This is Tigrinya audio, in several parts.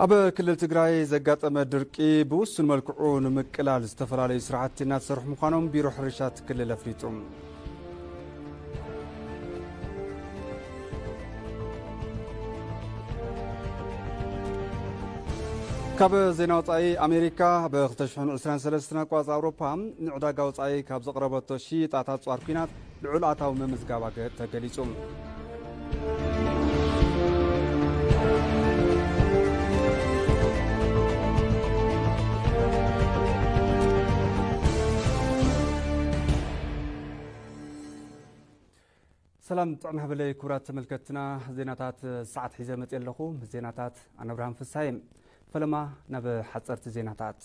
ኣብ ክልል ትግራይ ዘጋጠመ ድርቂ ብውሱን መልክዑ ንምቅላል ዝተፈላለዩ ስራሕቲ እናተሰርሑ ምዃኖም ቢሮ ሕርሻት ክልል ኣፍሊጡ። ካብ ዜና ወፃኢ ኣሜሪካ ኣብ 2023 ኣቋፅ ኣውሮፓ ንዕዳጋ ወፃኢ ካብ ዘቕረበቶ ሽይጣታት ፃር ኩናት ልዑል ኣታዊ ምምዝጋባ ተገሊፁ። ሰላም ጥዕና ሃበለይ ክቡራት ተመልከትና ዜናታት ሰዓት ሒዘ መፂ ኣለኹ ምስ ዜናታት ኣነ ኣብርሃም ፍስሃየ ፈለማ ናብ ሓፀርቲ ዜናታት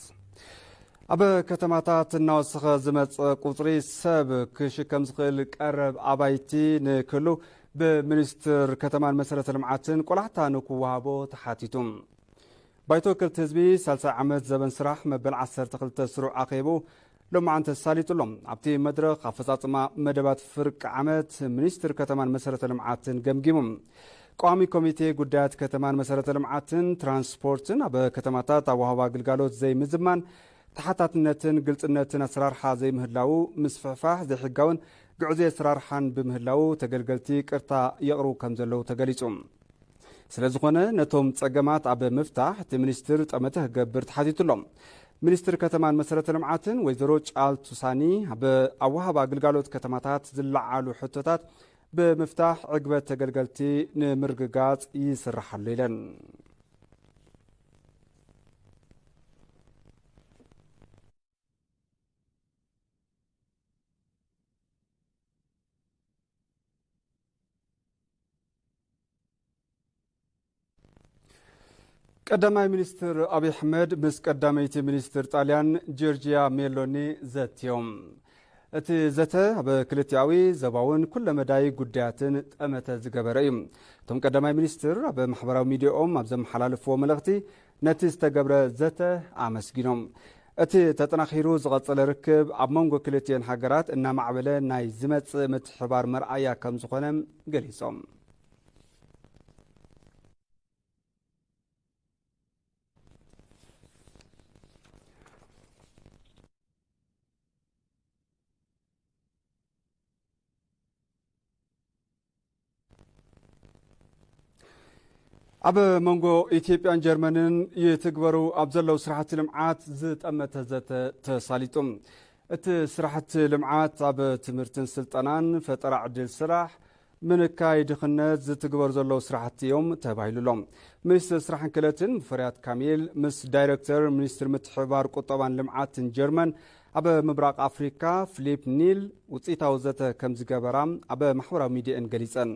ኣብ ከተማታት እናወሰኸ ዝመፀ ቁፅሪ ሰብ ክሽከም ዝኽእል ቀረብ ኣባይቲ ንክህሉ ብምኒስትር ከተማን መሰረተ ልምዓትን ቆላሕታ ንክወሃቦ ተሓቲቱ ባይቶ ወከልቲ ህዝቢ ሳልሳይ ዓመት ዘበን ስራሕ መበል 12 ስሩዕ ኣኼቡ ሎማዕንቲ ተሳሊጡ ኣሎ። ኣብቲ መድረኽ ኣፈፃፅማ መደባት ፍርቂ ዓመት ሚኒስትር ከተማን መሰረተ ልምዓትን ገምጊሙ። ቋሚ ኮሚቴ ጉዳያት ከተማን መሰረተ ልምዓትን ትራንስፖርትን ኣብ ከተማታት ኣወሃባ ግልጋሎት ዘይምዝማን፣ ተሓታትነትን ግልፅነትን ኣሰራርሓ ዘይምህላዉ፣ ምስፍሕፋሕ ዘይሕጋውን ግዕዙይ ኣሰራርሓን ብምህላዉ ተገልገልቲ ቅርታ የቕርቡ ከምዘለዉ ተገሊፁ። ስለዝኾነ ነቶም ፀገማት ኣብ ምፍታሕ እቲ ሚኒስትር ጠመተ ክገብር ተሓቲቱ ኣሎ። ሚኒስትር ከተማን መሰረተ ልምዓትን ወይዘሮ ጫልቱ ሳኒ ኣብ ኣወሃባ ግልጋሎት ከተማታት ዝለዓሉ ሕቶታት ብምፍታሕ ዕግበት ተገልገልቲ ንምርግጋፅ ይስራሕ ኣሎ ኢለን። ቀዳማይ ሚኒስትር ኣብዪ ኣሕመድ ምስ ቀዳመይቲ ሚኒስትር ጣልያን ጆርጅያ ሜሎኒ ዘትዮም እቲ ዘተ ኣብ ክልቲኣዊ ዘባውን ኩለ መዳይ ጉዳያትን ጠመተ ዝገበረ እዩ እቶም ቀዳማይ ሚኒስትር ኣብ ማሕበራዊ ሚዲያኦም ኣብ ዘመሓላለፍዎ መልእኽቲ ነቲ ዝተገብረ ዘተ ኣመስጊኖም፣ እቲ ተጠናኺሩ ዝቐፀለ ርክብ ኣብ መንጎ ክልቲኤን ሃገራት እናማዕበለ ናይ ዝመፅእ ምትሕብባር መርኣያ ከምዝኾነ ገሊፆም። ኣብ መንጎ ኢትዮጵያን ጀርመንን ይትግበሩ ኣብ ዘለዉ ስራሕቲ ልምዓት ዝጠመተ ዘተ ተሳሊጡ እቲ ስራሕቲ ልምዓት ኣብ ትምህርትን ስልጠናን ፈጠራ ዕድል ስራሕ ምንካይ ድኽነት ዝትግበሩ ዘለዉ ስራሕቲ እዮም ተባሂሉ ኣሎ ሚኒስትር ስራሕን ክእለትን ሙፈርያት ካሚል ምስ ዳይረክተር ሚኒስትር ምትሕብባር ቁጠባን ልምዓትን ጀርመን ኣብ ምብራቕ ኣፍሪካ ፍሊፕ ኒል ውፅኢታዊ ዘተ ከምዝገበራ ኣብ ማሕበራዊ ሚዲየእን ገሊፀን።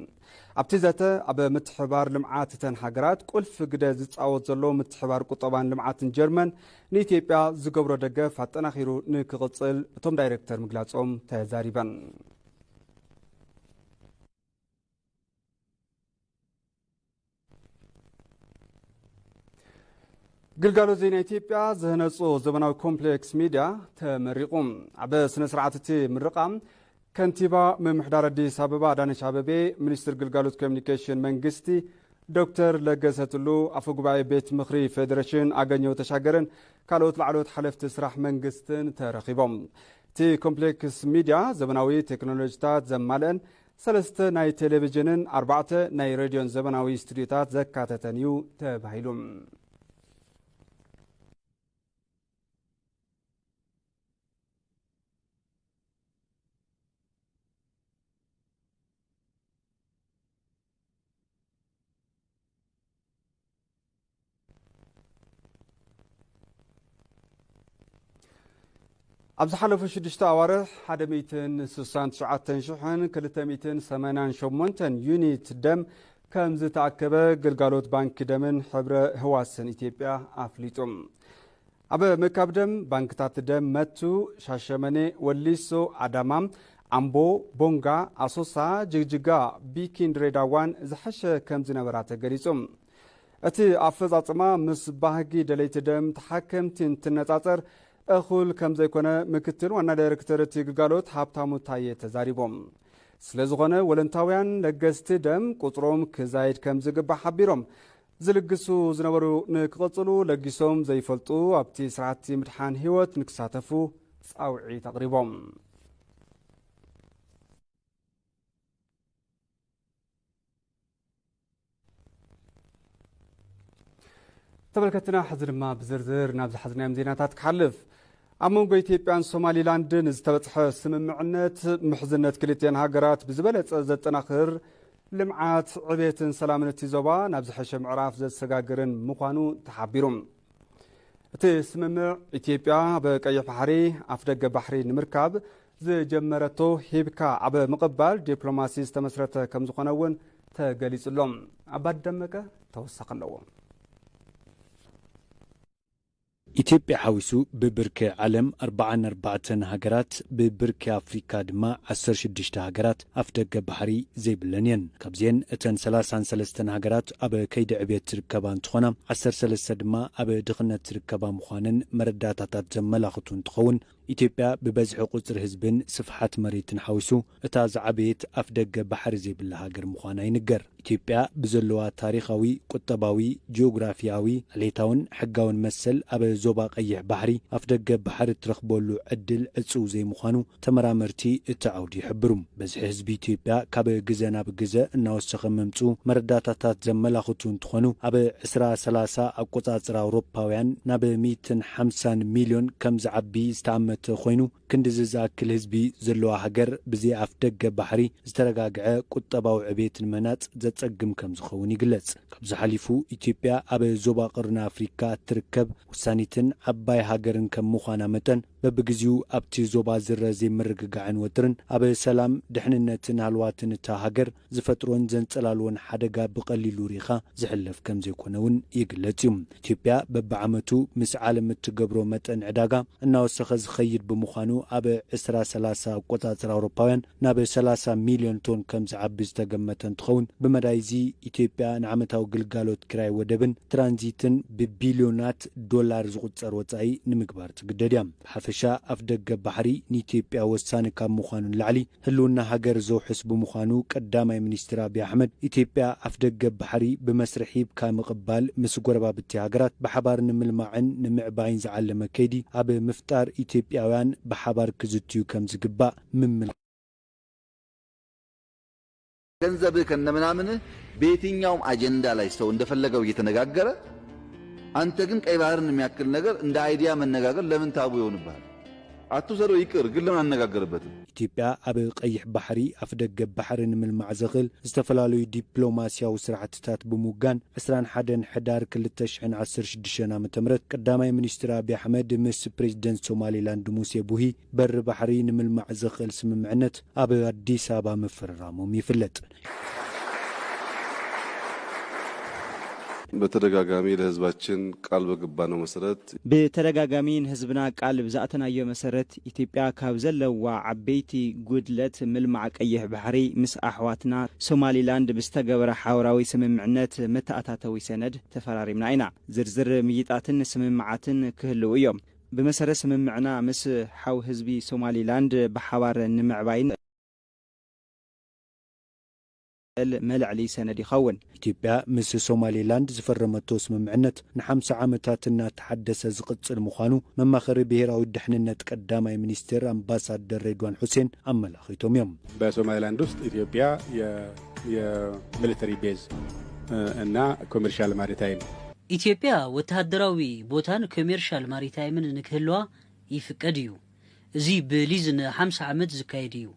ኣብቲ ዘተ ኣብ ምትሕብባር ልምዓት እተን ሃገራት ቁልፊ ግደ ዝፃወት ዘሎ ምትሕብባር ቁጠባን ልምዓትን ጀርመን ንኢትዮጵያ ዝገብሮ ደገፍ ኣጠናኺሩ ንክቕፅል እቶም ዳይሬክተር ምግላፆም ተዛሪበን። ግልጋሎት ዜና ኢትዮጵያ ዝህነፁ ዘመናዊ ኮምፕሌክስ ሚዲያ ተመሪቑ ኣብ ስነ ስርዓት እቲ ምርቓ ከንቲባ ምምሕዳር ኣዲስ ኣበባ ኣዳነች ኣበቤ ሚኒስትር ግልጋሎት ኮሚኒኬሽን መንግስቲ ዶክተር ለገሰ ቱሉ ኣፈ ጉባኤ ቤት ምኽሪ ፌዴሬሽን ኣገኘው ተሻገርን ካልኦት ላዕለዎት ሓለፍቲ ስራሕ መንግስትን ተረኺቦም እቲ ኮምፕሌክስ ሚዲያ ዘመናዊ ቴክኖሎጂታት ዘማልአን ሰለስተ ናይ ቴሌቪዥንን ኣርባዕተ ናይ ሬድዮን ዘበናዊ ስቱድዮታት ዘካተተን እዩ ተባሂሉ። ኣብ ዝሓለፉ ሽዱሽተ ኣዋርሕ ሓደ ሚእትን ስሳን ትሽዓተን ሽሕን ክልተ ሚእትን ሰማንያን ሸሞንተን ዩኒት ደም ከም ዝተኣከበ ግልጋሎት ባንኪ ደምን ሕብረ ህዋስን ኢትዮጵያ ኣፍሊጡ። ኣብ ምእካብ ደም ባንክታት ደም መቱ፣ ሻሸመኔ፣ ወሊሶ፣ ኣዳማ፣ ኣምቦ፣ ቦንጋ፣ ኣሶሳ፣ ጅግጅጋ፣ ቢኪን ድሬዳዋን ዝሐሸ ከምዝነበራ ተገሊፁ። እቲ ኣፈፃፅማ ምስ ባህጊ ደለይቲ ደም ተሓከምቲ እንትነፃፀር እኹል ከምዘይኮነ ምክትል ዋና ዳይሬክተር እቲ ግልጋሎት ሃብታሙ ታየ ተዛሪቦም። ስለዝኾነ ወለንታውያን ለገስቲ ደም ቁፅሮም ክዛይድ ከምዝግባእ ሓቢሮም። ዝልግሱ ዝነበሩ ንክቕፅሉ ለጊሶም ዘይፈልጡ ኣብቲ ስራሕቲ ምድሓን ህይወት ንክሳተፉ ፃውዒት ኣቕሪቦም። ተመልከትና ሕዚ ድማ ብዝርዝር ናብ ዝሓዝናዮም ዜናታት ክሓልፍ ኣብ መንጎ ኢትዮጵያን ሶማሊላንድን ዝተበፅሐ ስምምዕነት ምሕዝነት ክልትኤን ሃገራት ብዝበለፀ ዘጠናኽር ልምዓት፣ ዕቤትን ሰላምን እቲ ዞባ ናብ ዝሐሸ ምዕራፍ ዘሰጋግርን ምዃኑ ተሓቢሩ። እቲ ስምምዕ ኢትዮጵያ ኣብ ቀይሕ ባሕሪ ኣፍደገ ባሕሪ ንምርካብ ዝጀመረቶ ሂብካ ኣብ ምቕባል ዲፕሎማሲ ዝተመስረተ ከምዝኾነ እውን ተገሊጹ ኣሎ። ኣባዲ ደመቀ ተወሳኺ ኣለዎ። ኢትዮጵያ ሓዊሱ ብብርኪ ዓለም ኣርብዓን ኣርባዕተን ሃገራት ብብርኪ ኣፍሪካ ድማ ዓሰርተ ሽዱሽተ ሃገራት ኣፍደገ ባሕሪ ዘይብለን እየን። ካብዚኤን እተን ሰላሳን ሰለስተን ሃገራት ኣብ ከይዲ ዕብየት ዝርከባ እንትኾና ዓሰርተ ሰለስተ ድማ ኣብ ድኽነት ዝርከባ ምዃነን መረዳእታታት ዘመላኽቱ እንትኸውን፣ ኢትዮጵያ ብበዝሒ ቁጽሪ ህዝብን ስፍሓት መሬትን ሓዊሱ እታ ዝዓበየት ኣፍደገ ባሕሪ ዘይብላ ሃገር ምዃና ይንገር። ኢትዮጵያ ብዘለዋ ታሪኻዊ፣ ቁጠባዊ፣ ጂኦግራፊኣዊ፣ ዓሌታውን ሕጋውን መሰል ኣብ ዞባ ቀይሕ ባሕሪ ኣፍደገ ባሕሪ እትረኽበሉ ዕድል ዕጽው ዘይምዃኑ ተመራመርቲ እቲ ዓውዲ ይሕብሩ። ብዝሒ ህዝቢ ኢትዮጵያ ካብ ግዘ ናብ ግዘ እናወሰኸ ምምፅኡ መረዳእታታት ዘመላኽቱ እንትኾኑ ኣብ ዕስራ ሰላሳ ኣቆፃፅራ ኣውሮፓውያን ናብ ሚእትን ሓምሳን ሚልዮን ከምዝዓቢ ዝተኣመተ ኮይኑ ክንድዚ ዝኣክል ህዝቢ ዘለዋ ሃገር ብዘይ ኣፍደገ ባሕሪ ዝተረጋግዐ ቁጠባዊ ዕቤት ንምህናፅ ዘፀግም ከምዝኸውን ይግለፅ። ካብዚ ሓሊፉ ኢትዮጵያ ኣብ ዞባ ቀርኒ ኣፍሪካ እትርከብ ወሳኒትን ዓባይ ሃገርን ከም ምዃና መጠን በብግዚኡ ኣብቲ ዞባ ዝረ ዘይምርግጋዕን ወጥርን ኣብ ሰላም፣ ድሕንነትን ሃለዋትን እታ ሃገር ዝፈጥሮን ዘንጸላልዎን ሓደጋ ብቐሊሉ ርኢኻ ዝሕለፍ ከምዘይኮነ እውን ይግለጽ እዩ። ኢትዮጵያ በብዓመቱ ምስ ዓለም እትገብሮ መጠን ዕዳጋ እናወሰኸ ዝኸይድ ብምዃኑ ኣብ ዕስራ ሰላሳ ኣቆጻጽራ ኣውሮፓውያን ናብ ሰላሳ ሚልዮን ቶን ከም ዝዓቢ ዝተገመተ እንትኸውን፣ ብመዳይ'ዚ ኢትዮጵያ ንዓመታዊ ግልጋሎት ኪራይ ወደብን ትራንዚትን ብቢልዮናት ዶላር ዝቑጸር ወጻኢ ንምግባር ትግደድ እያ። ብሓፈሻ ኣፍደገ ባሕሪ ንኢትዮጵያ ወሳኒ ካብ ምዃኑ ንላዕሊ ህልውና ሃገር ዘውሕስ ብምዃኑ ቀዳማይ ሚኒስትር ኣብይ ኣሕመድ ኢትዮጵያ ኣፍደገ ባሕሪ ብመስርሕ ሂብካ ምቕባል ምስ ጎረባብቲ ሃገራት ብሓባር ንምልማዕን ንምዕባይን ዝዓለመ ከይዲ ኣብ ምፍጣር ኢትዮጵያውያን ብሓባር ክዝትዩ ከም ዝግባእ ምምልካት። ገንዘብህ ከነምናምንህ በየትኛውም አጀንዳ ላይ ሰው እንደፈለገው እየተነጋገረ አንተ ግን ቀይ ባህርን የሚያክል ነገር እንደ አይዲያ መነጋገር ለምን ታቡ ይሆንብሃል? አትውሰደው ይቅር ግን ለምን አንነጋገርበትም? ኢትዮጵያ ኣብ ቀይሕ ባሕሪ፣ ኣፍደገ ባሕሪ ንምልማዕ ዘኽእል ዝተፈላለዩ ዲፕሎማሲያዊ ስራሕቲታት ብምውጋን ዕስራን ሓደን ሕዳር ክልተ ሽሕን ዓሰርተ ሽዱሽተን ዓመተ ምህረት ቀዳማይ ሚኒስትር ኣቢይ ኣሕመድ ምስ ፕሬዚደንት ሶማሌላንድ ሙሴ ቡሂ በሪ ባሕሪ ንምልማዕ ዘኽእል ስምምዕነት ኣብ ኣዲስ ኣበባ ምፍርራሞም ይፍለጥ። በተደጋጋሚ ለህዝባችን ቃል በገባነው መሰረት። ብተደጋጋሚ ንህዝብና ቃል ብዝኣተናዮ መሰረት ኢትዮጵያ ካብ ዘለዋ ዓበይቲ ጉድለት ምልማዕ ቀይሕ ባሕሪ ምስ ኣሕዋትና ሶማሊላንድ ብዝተገበረ ሓበራዊ ስምምዕነት መተኣታተዊ ሰነድ ተፈራሪምና ኢና። ዝርዝር ምይይጣትን ስምምዓትን ክህልው እዮም። ብመሰረት ስምምዕና ምስ ሓው ህዝቢ ሶማሊ ላንድ ብሓባር ንምዕባይን እል መልዕሊ ሰነድ ይኸውን። ኢትዮጵያ ምስ ሶማሊ ላንድ ዝፈረመቶ ስምምዕነት ንሓምሳ ዓመታት እናተሓደሰ ዝቕፅል ምዃኑ መማኸሪ ብሄራዊ ደሕንነት ቀዳማይ ሚኒስቴር ኣምባሳደር ሬድዋን ሑሴን ኣመላኺቶም እዮም። በሶማሊ ላንድ ውስጥ ኢትዮጵያ የሚሊተሪ ቤዝ እና ኮሜርሻል ማሪታይም ኢትዮጵያ ወተሃደራዊ ቦታን ኮሜርሻል ማሪታይምን ንክህልዋ ይፍቀድ እዩ። እዚ ብሊዝ ንሓምሳ ዓመት ዝካየድ እዩ።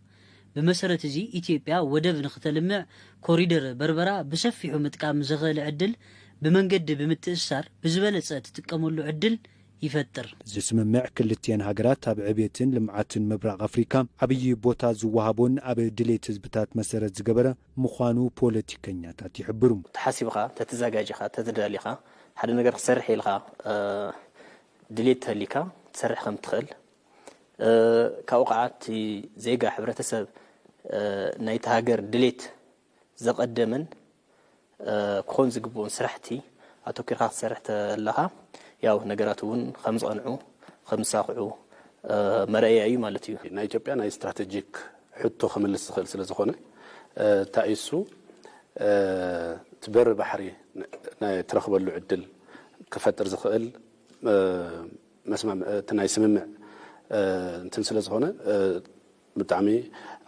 ብመሰረት እዚ ኢትዮጵያ ወደብ ንክተልምዕ ኮሪደር በርበራ ብሰፊሑ ምጥቃም ዘኽእል ዕድል ብመንገዲ ብምትእስሳር ብዝበለፀ ትጥቀመሉ ዕድል ይፈጥር። እዚ ስምምዕ ክልቲኤን ሃገራት ኣብ ዕብየትን ልምዓትን ምብራቕ ኣፍሪካ ዓብዪ ቦታ ዝወሃቦን ኣብ ድሌት ህዝብታት መሰረት ዝገበረ ምዃኑ ፖለቲከኛታት ይሕብሩ። ተሓሲብኻ፣ ተተዛጋጂኻ፣ ተተዳሊኻ፣ ሓደ ነገር ክትሰርሕ ኢልኻ ድሌት ተሃሊካ ክትሰርሕ ከም እትኽእል፣ ካብኡ ከዓ እቲ ዜጋ፣ ሕብረተሰብ ናይቲ ሃገር ድሌት ዘቐደመን ክኾን ዝግብኡን ስራሕቲ ኣተኲርካ ክትሰርሕ ተለኻ ያው ነገራት እውን ከም ዝቐንዑ፣ ከም ዝሳኽዑ መርኣያ እዩ ማለት እዩ። ናይ ኢትዮጵያ ናይ ስትራተጂክ ሕቶ ክምልስ ዝኽእል ስለ ዝኾነ እታይ እዩ እሱ እቲ በሪ ባሕሪ ናይ እትረኽበሉ ዕድል ክፈጥር ዝኽእል እቲ ናይ ስምምዕ እንትን ስለ ዝኾነ ብጣዕሚ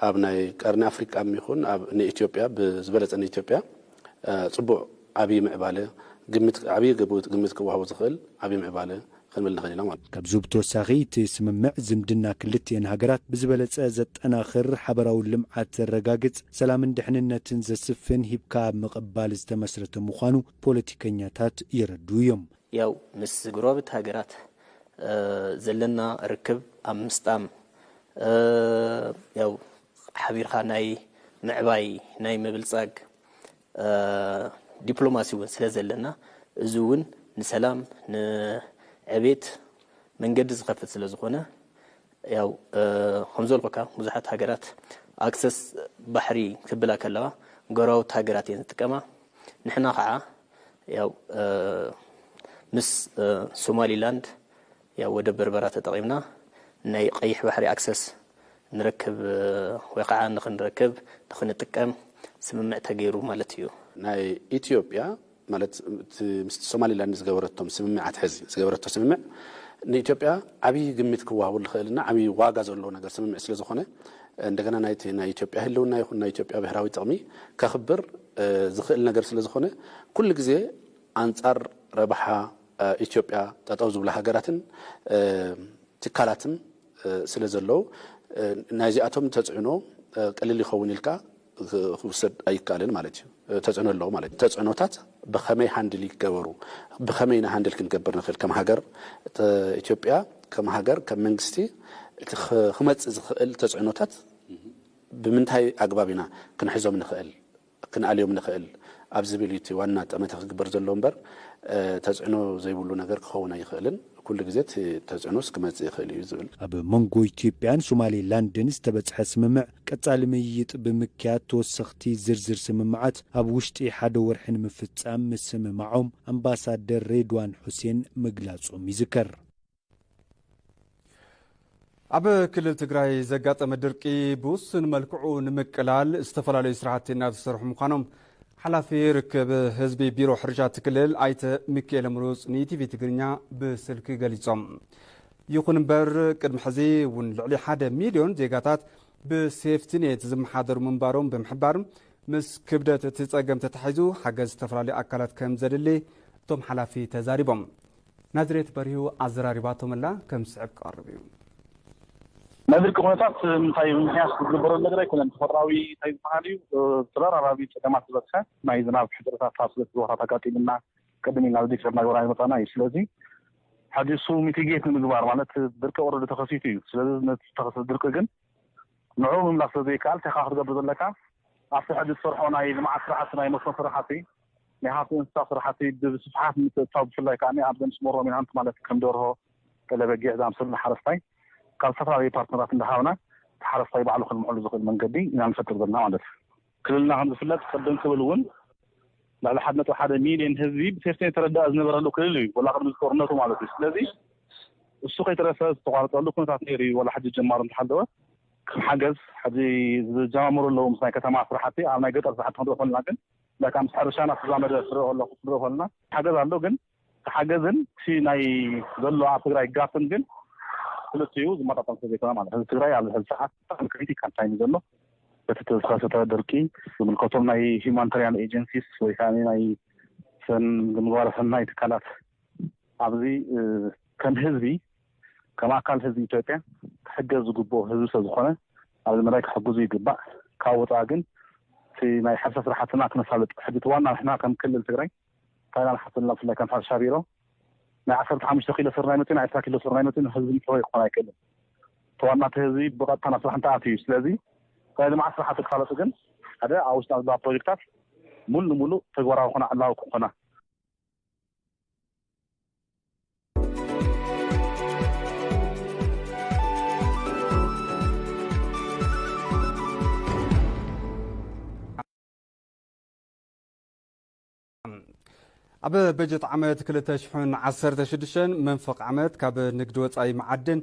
ኣብ ናይ ቀርኒ ኣፍሪቃ ይኹን ኣብ ንኢትዮጵያ ብዝበለፀ ንኢትዮጵያ ፅቡቅ ዓብዪ ምዕባለ ግምት ዓብዪ ግምት ክወሃቦ ዝኽእል ዓብዪ ምዕባለ ክንብል ንኽእል ኢና። ካብዚ ብተወሳኺ እቲ ስምምዕ ዝምድና ክልቲኤን ሃገራት ብዝበለፀ ዘጠናኽር፣ ሓበራዊ ልምዓት ዘረጋግፅ፣ ሰላምን ድሕንነትን ዘስፍን ሂብካ ኣብ ምቕባል ዝተመስረተ ምዃኑ ፖለቲከኛታት የረድኡ እዮም። ያው ምስ ጎረባብቲ ሃገራት ዘለና ርክብ ኣብ ምስጣም፣ ያው ሓቢርካ ናይ ምዕባይ፣ ናይ ምብልፃግ ዲፕሎማሲ እውን ስለ ዘለና እዚ እውን ንሰላም ንዕቤት መንገዲ ዝኸፍት ስለ ዝኾነ ያው ከምዘልኩካ ብዙሓት ሃገራት ኣክሰስ ባሕሪ ክብላ ከለዋ ጎረባብቲ ሃገራት እየን ዝጥቀማ ንሕና ከዓ ያው ምስ ሶማሊላንድ ያው ወደብ በርበራ ተጠቒምና ናይ ቐይሕ ባሕሪ ኣክሰስ ንረክብ ወይ ኸዓ ንኽንረክብ ንኽንጥቀም ስምምዕ ተገይሩ ማለት እዩ። ናይ ኢትዮጵያ ማለት እቲ ምስቲ ሶማሊላንድ ዝገበረቶም ስምምዓት ሕዚ ዝገበረቶ ስምምዕ ንኢትዮጵያ ዓብዪ ግምት ክወሃቡ ልኽእል እና ዓብዪ ዋጋ ዘለዎ ነገር ስምምዕ ስለ ዝኾነ እንደገና ናይቲ ናይ ኢትዮጵያ ህልውና ይኹን ናይ ኢትዮጵያ ብሄራዊ ጥቕሚ ከኽብር ዝኽእል ነገር ስለ ዝኾነ ኩሉ ግዜ ኣንፃር ረብሓ ኢትዮጵያ ጠጠው ዝብላ ሃገራትን ትካላትን ስለ ዘለው ናይዚኣቶም ተፅዕኖ ቀሊል ይኸውን ኢልካ ክውሰድ ኣይካልን ማለት እዩ። ተፅዕኖ ኣለዎ ማለት እዩ። ተፅዕኖታት ብኸመይ ሃንድል ይገበሩ፣ ብኸመይ ኢና ሃንድል ክንገብር ንኽእል ከም ሃገር ኢትዮጵያ ከም ሃገር ከም መንግስቲ እቲ ክመፅእ ዝኽእል ተፅዕኖታት ብምንታይ ኣግባብ ኢና ክንሕዞም ንኽእል? ክንኣልዮም ንኽእል ኣብ ዝብል እዩ እቲ ዋና ጠመተ ክግበር ዘለዎ እምበር ተፅዕኖ ዘይብሉ ነገር ክኸውን ኣይኽእልን። ኩሉ ግዜ እቲ ተፅዕኖስ ክመፅእ ይኽእል እዩ ዝብል። ኣብ መንጎ ኢትዮጵያን ሶማሌ ላንድን ዝተበፅሐ ስምምዕ ቀፃሊ ምይይጥ ብምክያድ ተወሰኽቲ ዝርዝር ስምምዓት ኣብ ውሽጢ ሓደ ወርሒ ንምፍፃም ምስምማዖም ኣምባሳደር ሬድዋን ሑሴን ምግላፆም ይዝከር። ኣብ ክልል ትግራይ ዘጋጠመ ድርቂ ብውሱን መልክዑ ንምቅላል ዝተፈላለዩ ስራሕቲ እናተሰርሑ ምዃኖም ሓላፊ ርክብ ህዝቢ ቢሮ ሕርሻ እቲ ክልል ኣይተ ሚካኤል ምሩፅ ንኢቲቪ ትግርኛ ብስልኪ ገሊፆም። ይኹን እምበር ቅድሚ ሕዚ እውን ልዕሊ ሓደ ሚልዮን ዜጋታት ብሴፍቲኔት ዝመሓደሩ ምንባሮም ብምሕባር ምስ ክብደት እቲ ፀገም ተታሒዙ ሓገዝ ዝተፈላለዩ ኣካላት ከም ዘድሊ እቶም ሓላፊ ተዛሪቦም ናዝሬት በሪሁ ኣዘራሪባቶም'ላ፣ ከም ዝስዕብ ክቐርብ እዩ። ናይ ድርቂ ኩነታት እንታይ ብምኽንያት ክግበረሉ ነገር ኣይኮነን። ተፈጥራዊ እንታይ ዝበሃል እዩ ተደራራቢ ፀገማት ዝበፅሐ ናይ ዝናብ ሕፅረታት ኣብ ሰለስተ ቦታታት ኣጋጢሙና ቅድም ኢልና ዝዲከርናዮ ወራር ይመፃና እዩ። ስለዚ ሕዚ እሱ ሚቲጌት ንምግባር ማለት ድርቂ ኦረዲ ተኸሲቱ እዩ። ስለዚ ነቲ ዝተኸሰተ ድርቂ ግን ንዕኡ ምምላስ ስለዘይከኣል እንታይ ኢኻ ክትገብር ዘለካ ኣብቲ ሕዚ ትሰርሖ ናይ ልምዓት ስራሕቲ ናይ መስኖ ስራሕቲ፣ ናይ ሃፍቲ እንስሳ ስራሕቲ ብስፍሓት ንምትእትታው ብፍላይ ከኣ ኣብዘን ስሞል ሮሚናንት ማለት ከም ደርሆ፣ ጤለ በጊዕ ዝኣምሰሉ ንሓረስታይ ካብ ዝተፈላለዩ ፓርትነራት እንዳሃብና እቲ ሓረስታይ ባዕሉ ከልምዐሉ ዝኽእል መንገዲ ኢና ንፈጥር ዘለና ማለት እዩ። ክልልና ከም ዝፍለጥ ቅድም ክብል እውን ልዕሊ ሓደ ነጥቢ ሓደ ሚልዮን ህዝቢ ብሴፍቲኔት ተረዳኢ ዝነበረሉ ክልል እዩ ወላ ቅድሚ ጦርነቱ ማለት እዩ። ስለዚ እሱ ከይተረፈ ዝተቋረፀሉ ኩነታት ነይሩ እዩ ወላ ሕጂ ጀማሩ እንተሃለወ ከም ሓገዝ ሕዚ ዝጀማመሩ ኣለዉ ምስ ናይ ከተማ ስራሕቲ ኣብ ናይ ገጠር ስራሕቲ ክንሪኦ ከለና ግን ላይክ ምስ ሕርሻና ዝተዛመደ ክርኢ ከለኩ ክንርኢ ከለና ሓገዝ ኣሎ ግን እቲ ሓገዝን እቲ ናይ ዘሎ ኣብ ትግራይ ጋፕን ግን ክልቲኡ ዝመጣጠን ስለ ዘይኮነ ማለት ህዝቢ ትግራይ ኣብዚ ሕዚ ሰዓት ብጣዕሚ ክሪቲካል ታይም እዩ ዘሎ በቲ ዝተኸሰተ ድርቂ ዝምልከቶም ናይ ሂማኒታሪያን ኤጀንሲስ ወይ ከዓ ናይ ሰን ምግባረ ሰናይ ትካላት ኣብዚ ከም ህዝቢ ከም ኣካል ህዝቢ ኢትዮጵያ ክሕገዝ ዝግብኦ ህዝቢ ስለዝኾነ ኣብዚ መዳይ ክሕግዙ ይግባእ። ካብ ወፃኢ ግን እቲ ናይ ሕርሻ ስራሕትና ክነሳልጥ ሕጂ እቲ ዋና ንሕና ከም ክልል ትግራይ እንታይ ኢና ንሓስብ ዘለና ብፍላይ ከም ሕርሻ ቢሮ ናይ ዓሰርተ ሓሙሽተ ኪሎ ስርናይ መፂኡ ናይ ዕስራ ኪሎ ስርናይ መፂኡ ንህዝቢ ምሕወይ ክኾን ኣይክእልን። እቲ ዋና እቲ ህዝቢ ብቐጥታ ናብ ስራሕ እንትኣትው እዩ። ስለዚ ናይ ልምዓት ስራሕቲ ክሳለጡ ግን ሓደ ኣብ ውሽጥና ዘለዋ ፕሮጀክታት ሙሉ ንሙሉእ ተግባራዊ ክኾና ዕላዊ ክኾና ኣብ በጀት ዓመት 216 መንፈቕ ዓመት ካብ ንግዲ ወፃኢ መዓድን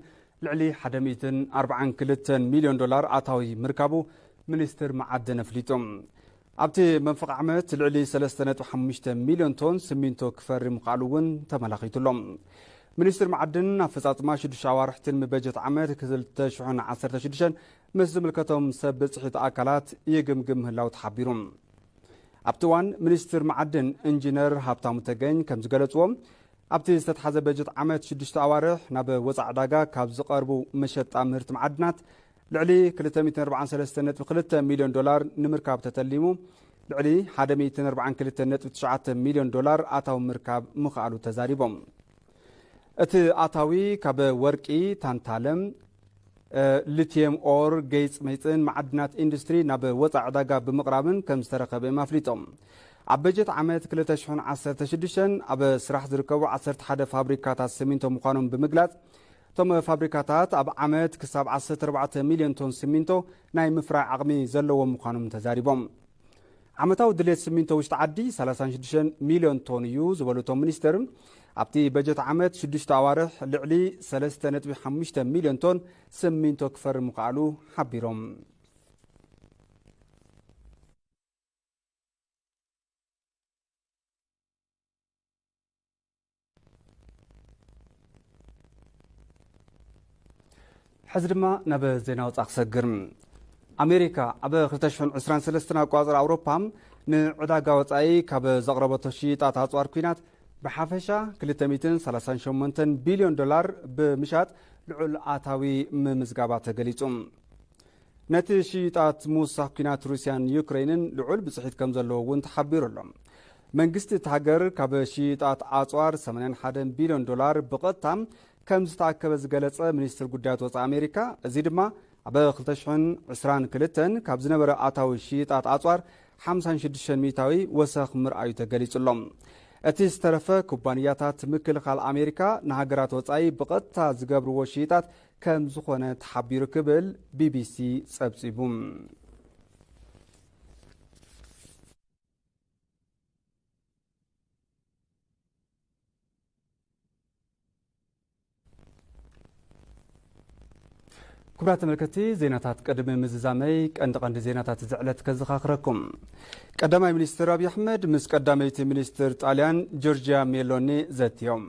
ልዕሊ 142 ሚሊዮን ዶላር ኣታዊ ምርካቡ ሚኒስትር መዓድን ኣፍሊጡ ኣብቲ መንፈቕ ዓመት ልዕሊ ሰለስተ ነጥቢ ሓሙሽተ ሚልዮን ቶን ስሚንቶ ክፈሪ ምኽኣሉ እውን ተመላኺቱ ኣሎ። ሚኒስትሪ መዓድን ኣፈፃፅማ ሽዱሽተ ኣዋርሕ ትልሚ በጀት ዓመት ክልተ ሽሕን ዓሰርተ ሽዱሽተን ምስ ዝምልከቶም ሰብ ብፅሒት ኣካላት ይግምግም ምህላው ተሓቢሩ። ኣብቲ እዋን ሚኒስትር መዓድን ኢንጂነር ሃብታሙ ተገኝ ከም ዝገለፅዎ ኣብቲ ዝተትሓዘ በጀት ዓመት ሽዱሽተ ኣዋርሕ ናብ ወፃኢ ዕዳጋ ካብ ዝቐርቡ መሸጣ ምህርቲ መዓድናት ልዕሊ ክልተ ሚእትን ኣርብዓን ሰለስተን ነጥቢ ክልተ ሚልዮን ዶላር ንምርካብ ተተሊሙ ልዕሊ ሓደ ሚእትን ኣርብዓን ክልተን ነጥቢ ትሽዓተ ሚልዮን ዶላር ኣታዊ ምርካብ ምኽኣሉ ተዛሪቦም። እቲ ኣታዊ ካብ ወርቂ፣ ታንታለም፣ ሊትየም ኦር፣ ገይፅ መይፅን መዓድናት ኢንዱስትሪ ናብ ወፃኢ ዕዳጋ ብምቕራብን ከም ዝተረኸበ እዮም ኣፍሊጦም። ኣብ በጀት ዓመት ክልተ ሽሕን ዓሰርተ ሽዱሽተን ኣብ ስራሕ ዝርከቡ ዓሰርተ ሓደ ፋብሪካታት ስሚንቶ ምዃኖም ብምግላፅ እቶም ፋብሪካታት ኣብ ዓመት ክሳብ ዓሰርተ ኣርባዕተ ሚልዮን ቶን ስሚንቶ ናይ ምፍራይ ዓቕሚ ዘለዎም ምዃኖም ተዛሪቦም። ዓመታዊ ድሌት ስሚንቶ ውሽጢ ዓዲ ሰላሳን ሽዱሽተን ሚልዮን ቶን እዩ ዝበሉ እቶም ሚኒስትር፣ ኣብቲ በጀት ዓመት ሽዱሽተ ኣዋርሕ ልዕሊ ሰለስተ ነጥቢ ሓሙሽተ ሚልዮን ቶን ስሚንቶ ክፈሪ ምኽኣሉ ሓቢሮም። ሕዚ ድማ ናብ ዜና ወፃ ክሰግር ኣሜሪካ ኣብ 223 ኣቋፅር ኣውሮፓ ንዕዳጋ ወፃኢ ካብ ዘቕረበቶ ሽይጣት ኣፅዋር ኩናት ብሓፈሻ 238 ቢልዮን ዶላር ብምሻጥ ልዑል ኣታዊ ምምዝጋባ ተገሊጹ ነቲ ሽይጣት ምውሳኽ ኲናት ሩስያን ዩክረይንን ልዑል ብፅሒት ከም ዘለዎ እውን ተሓቢሩ ኣሎ። መንግስቲ እቲ ሃገር ካብ ሽይጣት ኣፅዋር 81 ቢልዮን ዶላር ብቐጥታ ከም ዝተኣከበ ዝገለጸ ሚኒስትር ጉዳያት ወፃኢ ኣሜሪካ እዚ ድማ ኣብ 2022 ካብ ዝነበረ ኣታዊ ሽይጣት ኣፅዋር 56 ሚእታዊ ወሰኽ ምርኣዩ ተገሊጹ ኣሎ። እቲ ዝተረፈ ኩባንያታት ምክልኻል ኣሜሪካ ንሃገራት ወፃኢ ብቐጥታ ዝገብርዎ ሽይጣት ከም ዝኾነ ተሓቢሩ ክብል ቢቢሲ ጸብጺቡ። ክብራት ተመልከቲ ዜናታት ቅድሚ ምዝዛመይ ቀንዲ ቀንዲ ዜናታት እዚ ዕለት ከዘኻኽረኩም ቀዳማይ ሚኒስትር ኣብዪ ኣሕመድ ምስ ቀዳመይቲ ሚኒስትር ጣልያን ጆርጅያ ሜሎኒ ዘትዮም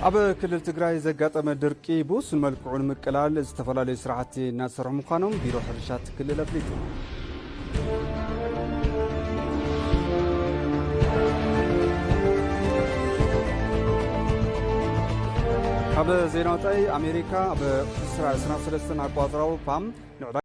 ኣብ ክልል ትግራይ ዘጋጠመ ድርቂ ብውሱን መልክዑ ንምቅላል ዝተፈላለዩ ስራሕቲ እናተሰርሑ ምዃኖም ቢሮ ሕርሻ ክልል ኣፍሊጡ። ኣብ ዜና ወፃኢ ኣሜሪካ ኣብ እስራኤል ሰናብ ሰለስተን ኣቋፅራዊ ፓም